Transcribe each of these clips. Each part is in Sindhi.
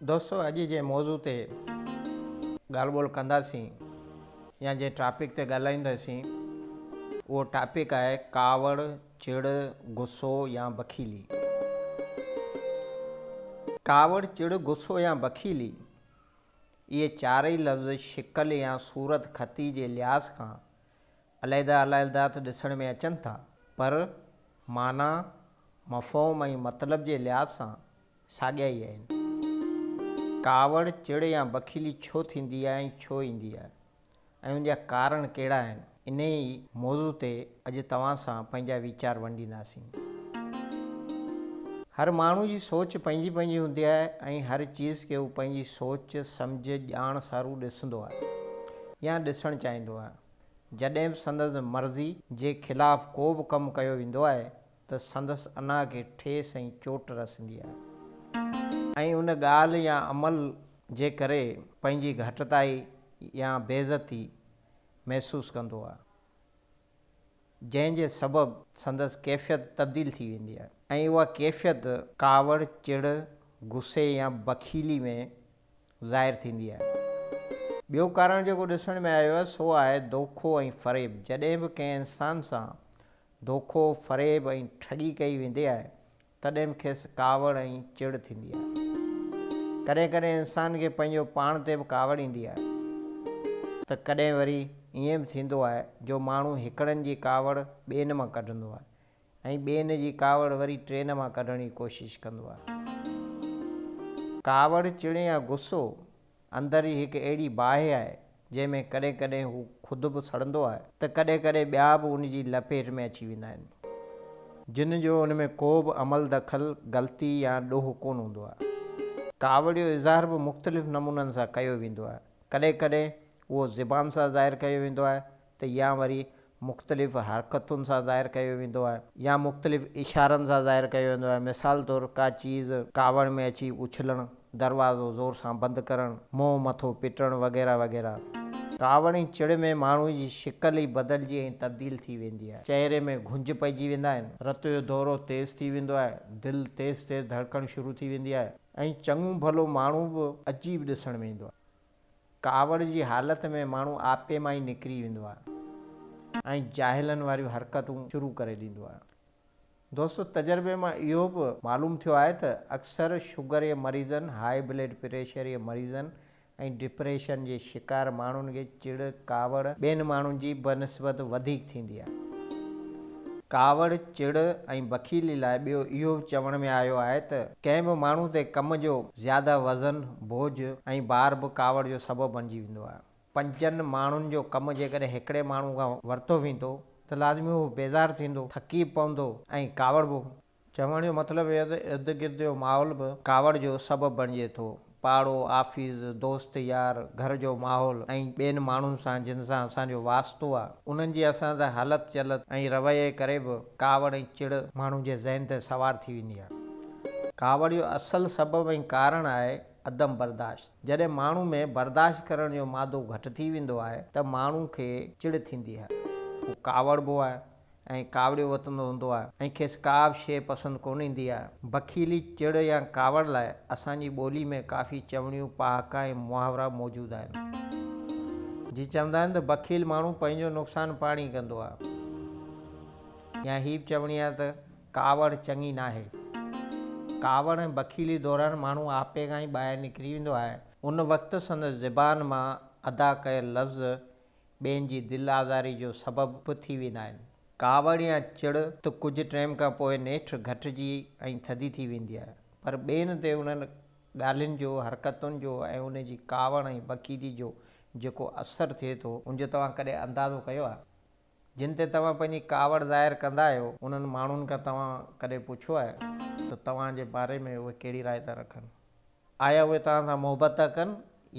دوستو اڄ جنهن موضوع تي ڳالهه ٻولهه ڪنداسين يا جنهن ٽاپڪ تي ڳالهائينداسين اهو ٽاپڪ آهي ڪاوڙ چڙ غصو يا بخيلي ڪاوڙ چڙ غصو يا بخيلي اهي چارئي لفظ شڪل يا صورت خطي جي لحاظ کان عليحده عليحده ته ڏسڻ ۾ اچن ٿا پر معنيٰ، مفهوم ۽ مطلب جي لحاظ سان ساڳيا ئي آهن. ڪاوڙ، چڙ يا بخيلي ڇو ٿيندي آهي ۽ ڇو ايندي آهي ۽ ان جا ڪارڻ ڪهڙا آهن، انهيء ئي موضوع تي اڄ توهان سان پنهنجا ويچار ونڊينداسين. هر ماڻهو جي سوچ پنهنجي پنهنجي هوندي آهي ۽ هر چيز کي هو پنهنجي سوچ، سمجهه، ڄاڻ سارون ڏسندو آهي. يا ڏسڻ چاهيندو آهيان. جڏهن به سندس مرضي جي خلاف ڪو به ڪم ڪيو ويندو آهي ته سندس انا کي ٺيس ۽ چوٽ رسندي آهي ۽ ان ڳالهه يا عمل جي ڪري پنهنجي گهٽتائي يا بيعزتي محسوس ڪندو آهي جنهن جي سبب سندس ڪيفيت تبديل ٿي ويندي آهي ۽ اها ڪيفيت ڪاوڙ، چڙ، غصي يا بخيلي ۾ ظاهر ٿيندي آهي. ٻيو ڪارڻ جيڪو ڏسڻ ۾ آيو آهي سو آهي دوکو ۽ فريب. جڏهن به ڪنهن انسان سان دوکو، فريب ۽ ٺڳي ڪئي ويندي آهي تڏهن به کيس ڪاوڙ ۽ چڙ ٿيندي آهي. ڪڏهن ڪڏهن انسان کي پنهنجو پاڻ تي به ڪاوڙ ايندي آهي ته ڪڏهن وري ائين به ٿيندو آهي جو ماڻهو هڪڙن جي ڪاوڙ ٻين مان ڪڍندو آهي. ۽ ٻين جي ڪاوڙ وري ٽرين مان ڪڍڻ جي ڪوشش ڪندو آهي. ڪاوڙ، چڙ يا غصو اندر جي هڪ اهڙي باهه آهي، جنهن ۾ ڪڏهن ڪڏهن هو خود به سڙندو آهي ته ڪڏهن ڪڏهن ٻيا به ان جي لپيٽ ۾ اچي ويندا آهن، جن جو ان ۾ ڪو به عمل دخل، غلطي يا ڏوهه ڪونه هوندو آهي. ڪاوڙ جو اظهار به مختلف نمونن سان ڪيو ويندو آهي. ڪڏهن ڪڏهن اهو زبان سان ظاهر ڪيو ويندو آهي، ته يا وري مختلف حرڪتن سان ظاهر ڪيو ويندو آهي يا مختلف اشارن سان ظاهر ڪيو ويندو آهي مثال طور ڪا چيز ڪاوڙ ۾ اچي اڇلڻ، دروازو زور سان بند ڪرڻ، منهن مٿو پٽڻ وغيره وغيره. ڪاوڙ ۽ چڙ ۾ ماڻهوء جي شڪل ئي بدلجي ۽ تبديل ٿي ويندي آهي، چهري ۾ گهنج پئجي ويندا آهن، رت جو دورو تيز ٿي ويندو آهي، دل تيز تيز ڌڙڪڻ شروع ٿي ويندي آهي ۽ چڱو ڀلو ماڻهو به عجيب ڏسڻ ۾ ايندو آهي. ڪاوڙ جي حالت ۾ ماڻهو آپي مان ئي نڪري ويندو آهي ۽ جاهلن واريون حرڪتون شروع ڪري ڏيندو آهي. دوستو تجربي مان اهو به معلوم ٿيو آهي ته اڪثر شگر جي مريضن، هاء بلڊ پريشر جي مريضن ۽ ڊپريشن جي شڪار ماڻهن کي چڙ، ڪاوڙ، ٻين ماڻهن جي بنسبت وڌيڪ ٿيندي آهي. ڪاوڙ، چڙ ۽ بخيلي لاء ٻيو اهو به چوڻ ۾ آيو آهي ته، ڪنهن به ماڻهو تي ڪم جو زياده وزن، بوجهه ۽ بار به ڪاوڙ جو سبب بڻجي ويندو آهي. پنجن ماڻهن جو ڪم جيڪڏهن هڪڙي ماڻهو کان ورتو ويندو ته لازمي هو بيزار ٿيندو، ٿڪي پوندو ۽ ڪاوڙبو. چوڻ جو مطلب اهي ته ارد گرد جو ماحول به ڪاوڙ جو سبب بڻجي ٿو. پاڙو، آفيس، دوست يار، گهر جو ماحول ۽ ٻين ماڻهن سان جن سان اسان جو واسطو آهي، انهن جي اسان سان هلت چلت ۽ رويي ڪري به ڪاوڙ ۽ چڙ ماڻهو جي ذهن تي سوار ٿي ويندي آهي. ڪاوڙ جو اصل سبب ۽ ڪارڻ آهي عدم برداشت. جڏهن ماڻهو ۾ برداشت ڪرڻ جو مادو گهٽ ٿي ويندو آهي ته ماڻهو کي چڙ ٿيندي آهي. هو ڪاوڙبو آهي. ۽ ڪاوڙيو وتندو هوندو آهي ۽ کيس ڪا به شيء پسند ڪونه ايندي آهي. بخيلي، چڙ يا ڪاوڙ لاء اسان جي ٻولي ۾ ڪافي چوڻيون، پهاڪا ۽ محاورا موجود آهن. جيئن چوندا آهن ته بخيل ماڻهو پنهنجو نقصان پاڻ ئي ڪندو آهي يا هي به چوڻي آهي ته ڪاوڙ چڱي ناهي. ڪاوڙ ۽ بخيلي دوران ماڻهو آپي کان ئي ٻاهر نڪري ويندو آهي. ان وقت سندس زبان مان ادا ڪيل لفظ ٻين جي دل آزاري جو سبب به ٿي ويندا آهن. ڪاوڙ يا چڙ ته ڪجهه ٽيم کان پوء نيٺ گهٽجي ۽ ٿڌي ٿي ويندي آهي، پر ٻين تي انهن ڳالهين جو، حرڪتن جو ۽ انهن جي ڪاوڙ ۽ بڪيدي جو جيڪو اثر ٿئي ٿو، ان جو توهان ڪڏهن اندازو ڪيو آهي؟ جن تي توهان پنهنجي ڪاوڙ ظاهر ڪندا آهيو، انهن ماڻهن کان توهان ڪڏهن پڇيو آهي ته توهان جي باري ۾ اهي ڪهڙي راء ٿا رکن؟ آيا اهي توهان سان محبت ٿا ڪن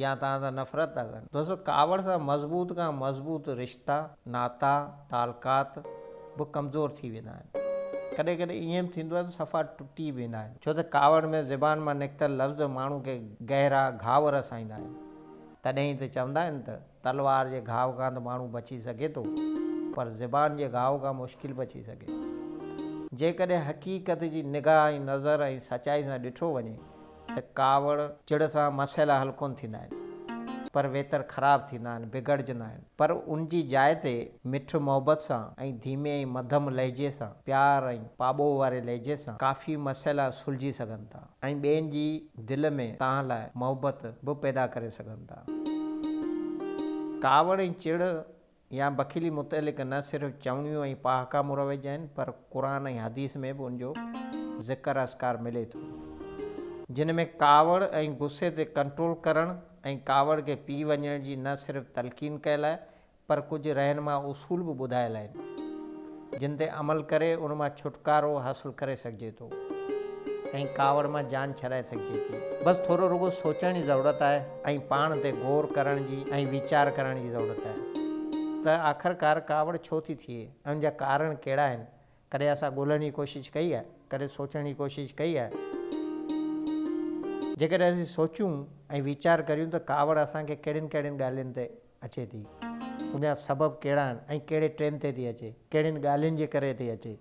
يا توهان سان نفرت ٿا ڪن. دوستو ڪاوڙ سان مضبوط کان مضبوط رشتا، ناتا، تعلقات به ڪمزور ٿي ويندا آهن. ڪڏهن ڪڏهن ائين به ٿيندو آهي ته صفا ٽٽي به ويندا آهن. ڇو ته ڪاوڙ ۾ زبان مان نڪتل لفظ ماڻهو کي گهرا گهاء رسائيندا آهن. تڏهن ئي ته چوندا آهن ته. تلوار جي گهاء کان ته ماڻهو بچي سگهي ٿو پر زبان جي گهاء کان مشڪل بچي سگهي ٿو. جيڪڏهن حقيقت جي نگاهه ۽ نظر ۽ سچائي سان ڏٺو وڃي ته ڪاوڙ، چڙ سان مسئلا حل ڪونه ٿيندا آهن پر ويتر خراب ٿيندا آهن، بگڙجندا آهن پر ان جي جاء تي مٺ محبت سان ۽ ڌيمي ۽ مڌم لهجي سان، پيار ۽ پاٻوهه واري لهجي سان ڪافي مسئلا سلجهي سگهن ٿا. ۽ ٻين جي دل ۾ توهان لاء محبت به پيدا ڪري سگهن ٿا. ڪاوڙ ۽ چڙ يا بخيلي متعلق نه صرف چوڻيون ۽ پهاڪا مروج آهن پر قرآن ۽ حديث ۾ به ان جو ذڪر اذڪار ملي ٿو جن ۾ ڪاوڙ ۽ غصي تي ڪنٽرول ڪرڻ ۽ ڪاوڙ کي پي وڃڻ جي نه صرف تلقين ڪيل آهي پر ڪجهه رهنما اصول به ٻڌايل آهن، جن تي عمل ڪري ان مان ڇوٽڪارو حاصل ڪري سگهجي ٿو ۽ ڪاوڙ مان جان ڇڏائي سگهجي ٿي. بس ٿورو رڳو سوچڻ جي ضرورت آهي ۽ پاڻ تي غور ڪرڻ جي ۽ ويچار ڪرڻ جي ضرورت آهي ته آخرڪار ڪاوڙ ڇو ٿي ٿئي ۽ ان جا ڪارڻ ڪهڙا آهن؟ ڪڏهن اسان ڳولهڻ جي ڪوشش ڪئي آهي؟ ڪڏهن سوچڻ جي ڪوشش ڪئي آهي؟ جيڪڏهن اسين سوچيون ۽ ويچار ڪريون ته ڪاوڙ اسان کي ڪهڙين ڪهڙين ڳالهين تي اچي ٿي، ان جا سبب ڪهڙا آهن ۽ ڪهڙي ٽرين تي ٿي اچي، ڪهڙين ڳالهين جي ڪري ٿي اچي.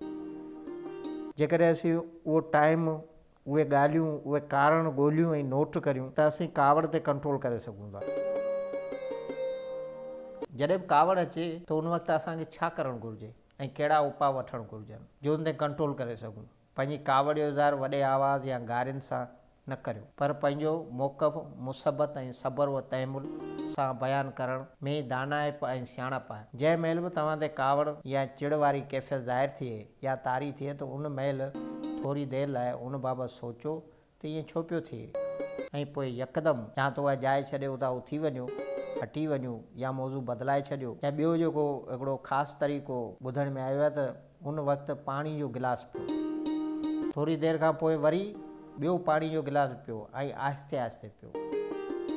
جيڪڏهن اسين اهو ٽائيم، اهي ڳالهيون، اهي ڪارڻ ڳولهيون ۽ نوٽ ڪريون ته اسين ڪاوڙ تي ڪنٽرول ڪري سگهون ٿا. جڏهن به ڪاوڙ اچي ته ان وقت اسان کي ڇا ڪرڻ گهرجي ۽ ڪهڙا اپاء وٺڻ گهرجن جو ان تي ڪنٽرول ڪري سگهون. پنهنجي ڪاوڙ جو اظهار وڏي آواز يا گارين سان نه ڪريو، پر پنهنجو موقف مثبت ۽ صبر و تحمل سان بيان ڪرڻ ۾ ئي دانائپ ۽ سياڻپ آهي. جنهن مهل به توهان تي ڪاوڙ يا چڙ واري ڪيفيت ظاهر ٿئي يا طاري ٿئي ته ان مهل ٿوري دير لاء ان بابت سوچو ته ائين ڇو پيو ٿئي ۽ پوء يڪدم يا ته اها جاء ڇڏي اتان اٿي وڃو، هٽي وڃو يا موضوع بدلائي ڇڏيو ۽ ٻيو جيڪو هڪڙو خاص طريقو ٻڌڻ ۾ آيو آهي ته ان وقت پاڻي جو گلاس پيو، ٿوري دير کان پوء وري ٻيو پاڻي جو گلاس پيو ۽ آهستي آهستي پيو.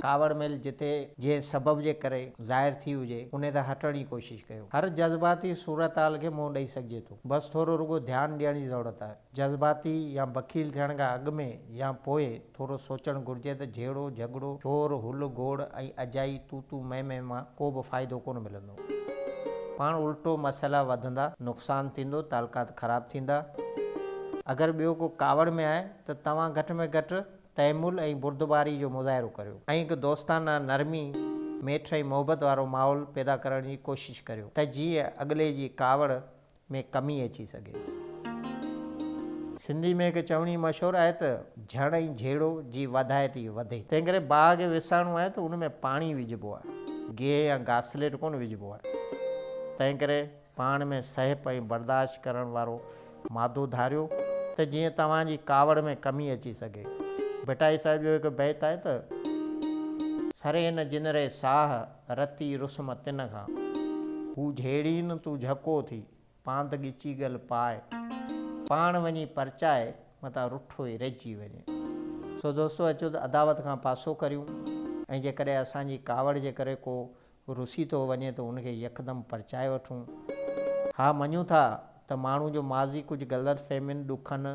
ڪاوڙ ميل جتي جنهن سبب جي ڪري ظاهر ٿي هجي انهي تان هٽڻ جي ڪوشش ڪيو. هر جذباتي صورتحال کي منهن ڏئي سگهجي ٿو، بس ٿورو رڳو ڌيان ڏيڻ جي ضرورت آهي. جذباتي يا بخيل ٿيڻ کان اڳ ۾ يا پوء ٿورو سوچڻ گهرجي ته جهيڙو جهڳڙو، شور هل گوڙ ۽ اجائي تون تون مين مين مان ڪو به فائدو ڪونه ملندو. پاڻ الٽو مسئلا وڌندا، نقصان ٿيندو، تعلقات خراب ٿيندا. اگر ٻيو ڪو ڪاوڙ ۾ آهي ته توهان گهٽ ۾ گهٽ تحمل ۽ بردباري جو مظاهرو ڪريو ۽ هڪ دوستانه، نرمي، ميٺ ۽ محبت وارو ماحول پيدا ڪرڻ جي ڪوشش ڪريو ته جيئن اڳلي جي ڪاوڙ ۾ ڪمي اچي سگهي ٿي. سنڌي ۾ هڪ چوڻي مشهور آهي ته، جهڙ ۽ جهيڙو جي وڌائي ٿي وڌي. تنهن ڪري باغ وسائڻو آهي ته ان ۾ پاڻي وجهبو آهي، گيهه يا گاسليٽ ڪونه وجهبو آهي. تنهن ڪري پاڻ ۾ سهپ ۽ برداشت ڪرڻ وارو مادو ڌاريو ته جيئن توهان جي ڪاوڙ ۾ ڪمي اچي سگهي. ڀٽائي صاحب جو هڪ بيت آهي ته. سري نه جنري ساهه، رتي رسم تن کان، هو جهيڙين تون جهڪو ٿي، پاند ڳچي ڳل پاء، پاڻ وڃي پرچاء، متان رٺو ئي رهجي وڃي. سو دوستو اچو ته عداوت کان پاسو ڪريون ۽ جيڪڏهن اسان جي ڪاوڙ جي ڪري ڪو رسي ٿو وڃي ته ان کي يڪدم پرچائي وٺون. ها مڃون ٿا ته ماڻهو جو ماضي ڪجهه غلط فهمين، ڏکن،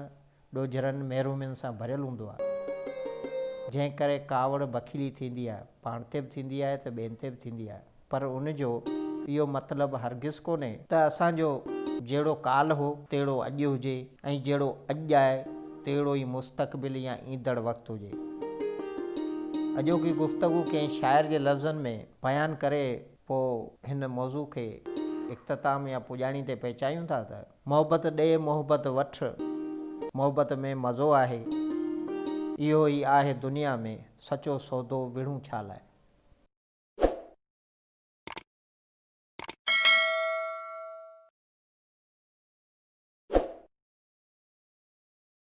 ڏوجھرن محرومين سان ڀريل هوندو آهي، جنهن ڪري ڪاوڙ بخيلي ٿيندي آهي، پاڻ تي به ٿيندي آهي ته ٻين تي به ٿيندي آهي، پر ان جو اهو مطلب هرگز ڪونهي، ته اسان جو جهڙو ڪالهه هو، تهڙو اڄ هجي ۽ جهڙو اڄ آهي، تهڙو ئي مستقبل يا ايندڙ وقت هجي. اڄوڪي گفتگو ڪنهن شاعر جي لفظن ۾ بيان ڪري پوء هن موضوع کي اختتام يا پڄاڻي تي پهچايون ٿا ته. محبت ڏي محبت وٺ محبت ۾ مزو آهي اهو ئي آهي دنيا ۾ سچو سودو وڙهون ڇا لاء.